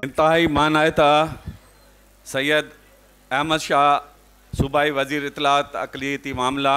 انتهائي مانائته سيد احمد شاهه صوبائي وزير اطلاعات اقليتي معاملا،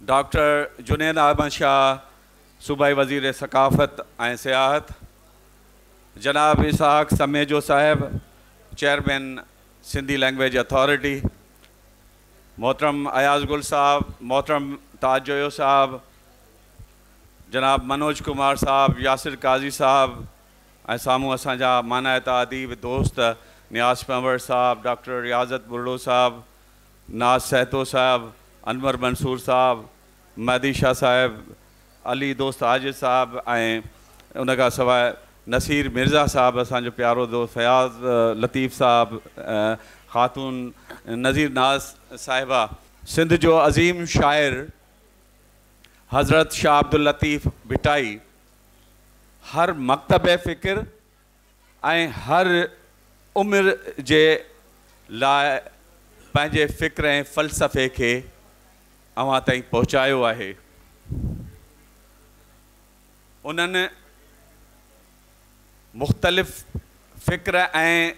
ڊاڪٽر جنيد احمد شاهه صوبائي وزير ثقافت ۽ سياحت، جناب اسحاق سميجو صاحب چيئرمين سنڌي لئنگويج اٿارٽي، محترم اياز گل صاحب، محترم تاج جويو صاحب، جناب منوج ڪمار صاحب، ياسر قاضي صاحب ۽ سامهون اسان جا مانائتا اديب دوست نياز پنهور صاحب، ڊاڪٽر رياضت ٻرڙو صاحب، ناز سهتو صاحب، انور منصور صاحب، مهدي شاهه صاحب، علي دوست عاجز صاحب ۽ ان کان سواء نصير مرزا صاحب، اسان جو پيارو دوست فياض لطيف صاحب، خاتون نظير ناز صاحبه، سنڌ جو عظيم شاعر حضرت شاھ عبداللطيف ڀٽائي هر مڪتب فڪر ۽ هر عمر جي لاء پنهنجي فڪر ۽ فلسفي کي اوهان تائين پهچايو آهي. انهن. مختلف فڪر ۽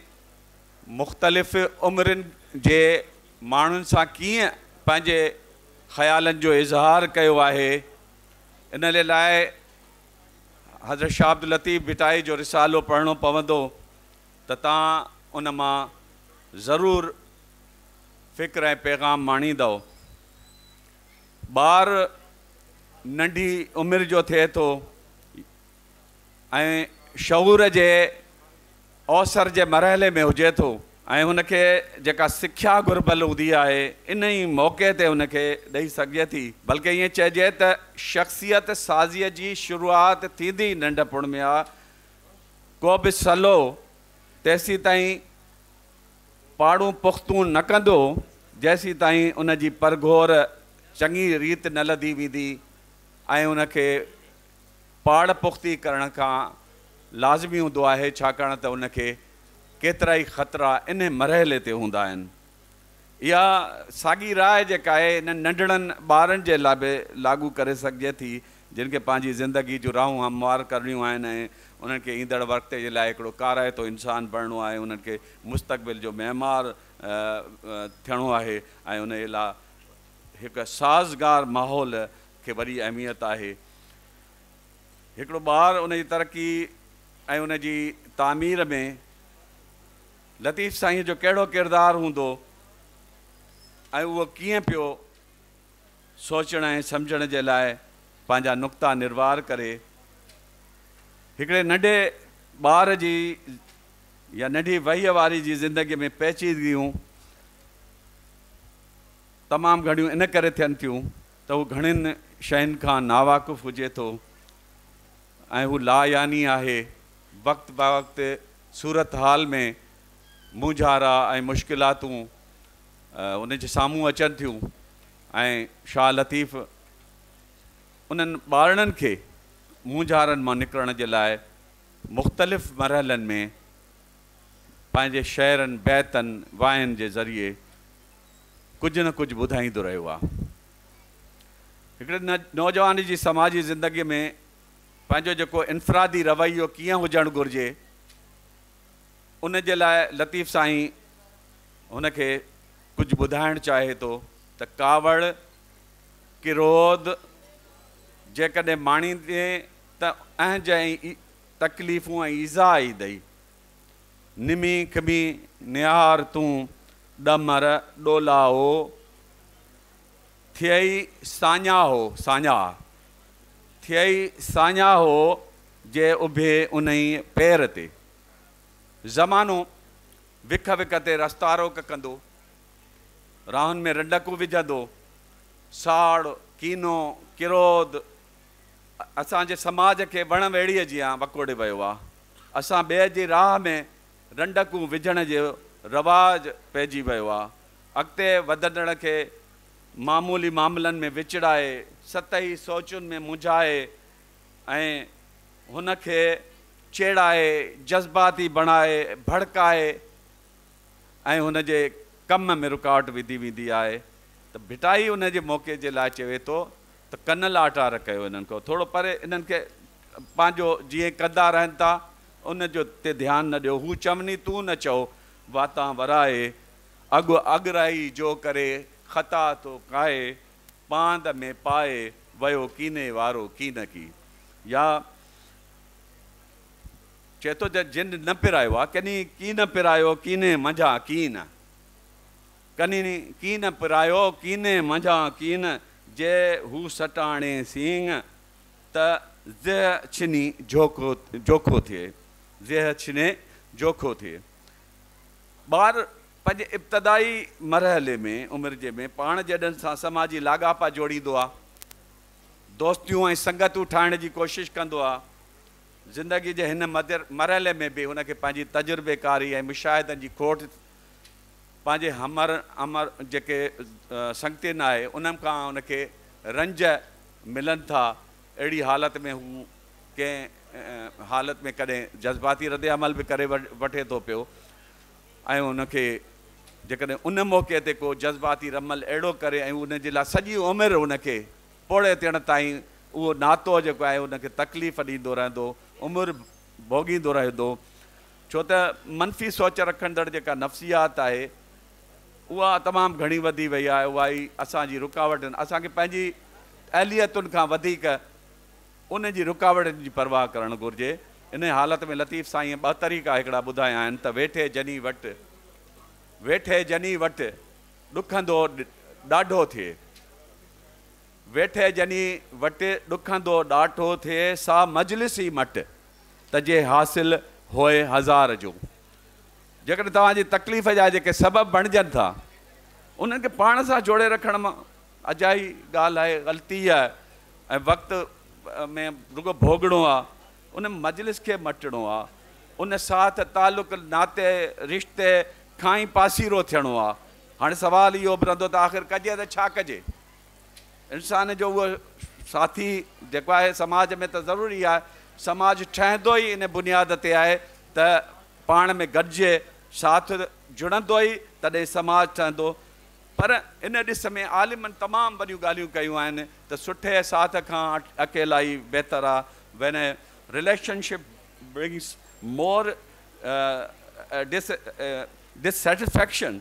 مختلف عمرين جي ماڻهن سان ڪيئن پنهنجي خيالن جو اظهار ڪيو آهي ان جي لاء حضرت شاهه عبداللطيف ڀٽائي جو رسالو پڙهڻو پوندو ته توهان ان مان ضرور فڪر ۽ پيغام ماڻيندؤ. ٻار ننڍي عمر جو ٿئي ٿو ۽ شعور جي اوسر جي مرحلي ۾ هجي ٿو ۽ هن کي جيڪا سکيا گهربل هوندي آهي ان ئي موقعي تي هن کي ڏئي سگهجي ٿي بلڪه ائين چئجي ته شخصيت سازيء جي شروعات ٿيندي ئي ننڍپڻ ۾ آهي ڪوبه سلو تيسيتائين پاڙون پختون نه ڪندو جيسيتائين ان جي پرگهور چڱي ريت نه لڌي ويندي ۽ ان کي پاڙ پختي ڪرڻ کان لازمي هوندو آهي ڇاڪاڻ ته ان کي ڪيترائي خطرا انهي مرحلي تي هوندا آهن. اها ساڳي راء جيڪا آهي انهن ننڍڙن ٻارن جي لاء به لاڳو ڪري سگهجي ٿي جن کي پنهنجي زندگي جون راهون هموار ڪرڻيون آهن ۽ انهن کي ايندڙ وقت جي لاء هڪڙو ڪارائتو انسان بڻڻو آهي انهن کي مستقبل جو معمار ٿيڻو آهي ۽ انهي لاء هڪ سازگار ماحول کي وڏي اهميت آهي. هڪڙو ٻار ان جي ترقي ۽ ان جي تعمير ۾ لطيف سائينء جو ڪهڙو ڪردار هوندو ۽ اهو ڪيئن پيو سوچڻ ۽ سمجهڻ جي لاء پنهنجا نقطا نروار ڪري. هڪڙي ننڍي ٻار جي يا ننڍي وهيء واري جي زندگيء ۾ پيچيدگيون تمام گهڻيون ان ڪري ٿين ٿيون، ته هو گهڻين شين کان ناواقف هجي ٿو ۽ هو لا يعني آهي، وقت بوقت صورتحال ۾ مونجهارا ۽ مشڪلاتون ان جي سامهون اچن ٿيون ۽ شاهه لطيف انهن ٻارڙن کي مونجهارن مان نڪرڻ جي لاء مختلف مرحلن ۾ پنهنجي شعرن، بيتن، واين جي ذريعي ڪجهه نه ڪجهه ٻڌائيندو رهيو آ. هڪڙي نوجوان جي سماجي زندگي ۾ پنهنجو جيڪو انفرادي رويو ڪيئن هجڻ گهرجي ان جي لاء لطيف سائين هن کي ڪجهه ٻڌائڻ چاهي ٿو ته ڪاوڙ، ڪروڌ، جيڪڏهن ماڻيندين ته اهنج ۽ تڪليفون ۽ ايذاء ايندئي. نمي کمي نهار تون، ڏمر ڏولاهو ٿئي ساڃاهو، ساڃاهه ٿئي ساڃاهو جي اڀي انهي پير تي. زمانو وک وک تي رستا روڪ ڪندو، راهن ۾ رنڊڪون وجهندو، ساڙ، ڪينو، ڪروڌ، اسان جي سماج کي وڻ ويڙهيء جيان وڪوڙي ويو آ. اسان ٻئي جي راهه ۾ رنڊڪون وجهڻ جو رواج پئجي ويو آ. اڳتي وڌندڙ کي معمولي معاملن ۾ وچڙائي، سطحي سوچن ۾ منجهائي ۽ هن کي چيڙائي، جذباتي بڻائي، ڀڙڪائي ۽ هن جي ڪم ۾ رڪاوٽ وڌي ويندي آهي ته ڀٽائي ان جي موقعي جي لاء چوي ٿو ته ڪن لاٽار ڪيو انهن کان ٿورو پري انهن کي پنهنجو جيئن ڪندا رهن ٿا ان جو تي ڌيان نه ڏيو هو چوني تون نه چئو واتان ورائي اڳ اڳرائي جو ڪري خطا ٿو ڪائي پاند ۾ پائي ويو ڪيني وارو ڪين ڪي يا چئي ٿو جن نه پرايو آ ڪني ڪين پرايو ڪيني منجهان ڪين ڪنين ڪين پرايو ڪيني منجهان ڪين جي هو سٽاڻي سينگ ته زيهه ڇني جوکو جوکو ٿئي زيهه ڇني جوکو ٿئي ٻار پنهنجي ابتدائي مرحلي ۾ عمر جي ۾ پاڻ جيڏن سان سماجي لاڳاپا جوڙيندو آ دوستيون ۽ سنگتون ٺاهڻ جي ڪوشش ڪندو آ زندگي جي هن مرحلي ۾ به هن کي پنهنجي تجربيڪاري ۽ مشاهدن جي کوٽ پنهنجي همر همر جيڪي سنگتين آهي انهن کان هن کي رنج ملن ٿا اهڙي حالت ۾ هو ڪنهن حالت ۾ ڪڏهن جذباتي رد عمل به ڪري وٺي ٿو پيو ۽ هن کي جيڪڏهن ان موقعي تي ڪو جذباتي رمل اهڙو ڪري ۽ ان جي لاء سڄي عمر هن کي پوڙهي تڻ تائين اهو ناتو جيڪو آهي هن کي تڪليف ڏيندو رهندو عمر ڀوڳيندو رهي ٿو ڇو ته منفي سوچ رکندڙ جيڪا نفسيات آهي اها تمام گهڻي وڌي وئي آهي اها ئي اسان جي رڪاوٽن اسان کي پنهنجي اهليتن کان وڌيڪ ان جي رڪاوٽن جي پرواهه ڪرڻ گهرجي انهي حالت ۾ لطيف سائينء ٻه طريقا هڪڙا ٻڌايا آهن ته ويٺي جني وٽ ويٺي جني وٽ ڏکندو ڏاڍو ٿئي ويٺي ڄڃي وٽ ڏکندو ڏاٺو ٿئي سا مجلس ئي مٽ ته جي حاصل هوء هزار جو جيڪڏهن توهان جي تڪليف جا جيڪي سبب بڻجن ٿا انهن کي پاڻ سان جوڙي رکڻ مان اجائي ڳالهه آهي غلطي آهي ۽ وقت ۾ رڳو ڀوڳڻو آهي ان مجلس کي مٽڻو آهي ان ساٿ تعلق ناتي رشتي کان ئي پاسيرو ٿيڻو آهي هاڻي سوال اهو به رهندو ته آخر ڪجي ته ڇا ڪجي؟ انسان جو اهو ساٿي جيڪو آهي سماج ۾ ته ضروري آهي، سماج ٺهندو ئي ان بنياد تي آهي ته پاڻ ۾ گڏجي ساٿ جڙندو ئي تڏهن سماج ٺهندو پر ان ڏس ۾ عالمن تمام وڏيون ڳالهيون ڪيون آهن ته سٺي ساٿ کان اڪيلائي بهتر آهي When a relationship brings more dissatisfaction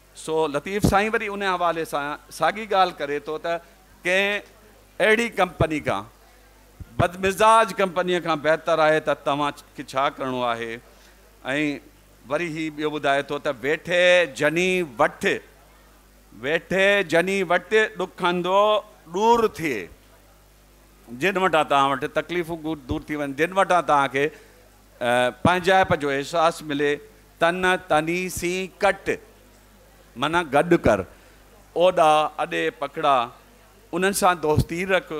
سو لطيف سائين وري ان حوالي سان ساڳي ڳالهه ڪري ٿو ته ڪنهن اهڙي ڪمپني کان بدمزاج ڪمپنيء کان بهتر آهي ته توهان کي ڇا ڪرڻو آهي ۽ وري هي ٻيو ٻڌائي ٿو ته ويٺي جني وٺ ويٺي جني وٽ ڏکندو ڏور ٿئي جن وٽان توهان وٽ تڪليفون دور ٿي وڃن جن وٽان توهان کي پنهنجائپ جو احساس ملي، تن تني سين ڪٽ، معنيٰ گڏ ڪر، اوڏا اڏي پکڙا، انهن سان دوستي رک،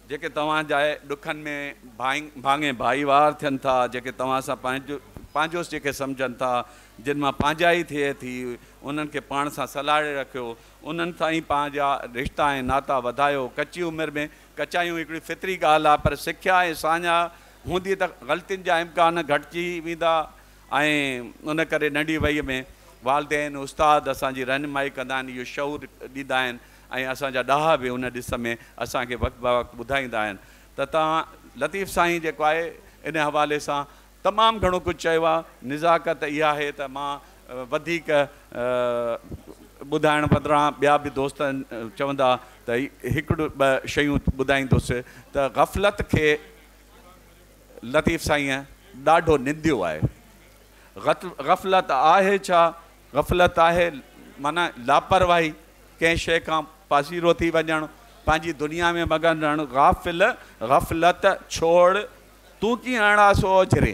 جيڪي توهان جا ڏکن ۾ ڀاڱي ڀائيوار ٿين ٿا، جيڪي توهان سان پنهنجوس جيڪي سمجهن ٿا، جن مان پنهنجائي ٿئي ٿي، انهن کي پاڻ سان سلهاڙي رکيو، انهن سان ئي پنهنجا رشتا ۽ ناتا وڌايو، ڪچي عمر ۾ ڪچايون هڪڙي فطري ڳالهه آهي، پر سکيا ۽ ساڃاهه هوندي ته غلطين جا امڪان گهٽجي ويندا ۽ ان ڪري ننڍي وئي ۾ والدين، استاد اسان جي رهنمائي ڪندا آهن، اهو شعور ڏيندا آهن ۽ اسان جا ڏاها به ان ڏس ۾ اسان کي وقت به وقت ٻڌائيندا آهن ته توهان لطيف سائين جيڪو آهي ان حوالي سان تمام گهڻو ڪجهه چيو آهي، نزاڪت اها آهي ته مان وڌيڪ ٻڌائڻ بدران ٻيا به دوست چوندا ته هڪڙو ٻه شيون ٻڌائيندس ته غفلت کي لطيف سائينء ڏاڍو ننديو آهي. غفلت آهي ڇا؟ غفلت آهي معنيٰ لاپرواهي، ڪنهن شيء کان پاسيرو ٿي وڃڻ، پنهنجي دنيا ۾ مگن رهڻ. غافل! غفلت ڇوڙ، تون ڪيئن اڻا سو اوجهري.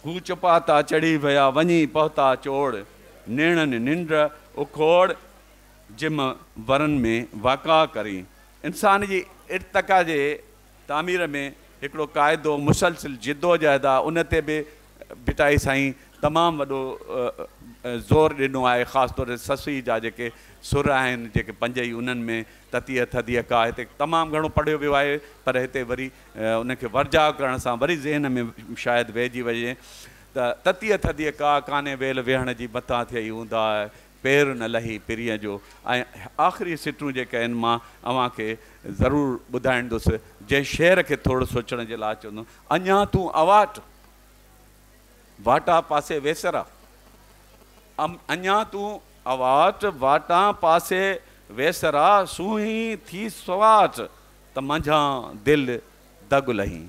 هو چپاتا چڙهي ويا، وڃي پهتا چوڙ. نيڻن ننڊ اکوڙ، جم ورن ۾ واڪا ڪرين. انسان جي ارتقا جي تعمير ۾ هڪڙو قاعدو مسلسل جدوجهد آ ان تي به ڀٽائي سائين تمام وڏو زور ڏنو آهي خاص طور تي سسئي جا جيڪي سر آهن جيڪي پنج ئي انهن ۾ تتيء ٿڌيء ڪا هتي تمام گهڻو پڙهيو ويو آهي پر هتي وري ان کي ورجاء ڪرڻ سان وري ذهن ۾ شايد ويهجي وڃي ته تتيء ٿڌيء ڪا ڪانهي ويل ويهڻ جي متان ٿئي هوندا پير نه لهي پرينء جو ۽ آخري سٽون جيڪي آهن مان اوهان کي ضرور ٻڌائيندس جنهن شعر کي ٿورڙ سوچڻ جي لاء چوندم اڃا تون اواٽ واٽان پاسي ويسرا ام اڃا تون اواٽ واٽان پاسي ويسرا سونهين ٿي سواٽ ته منجهان دل دڳ لهين.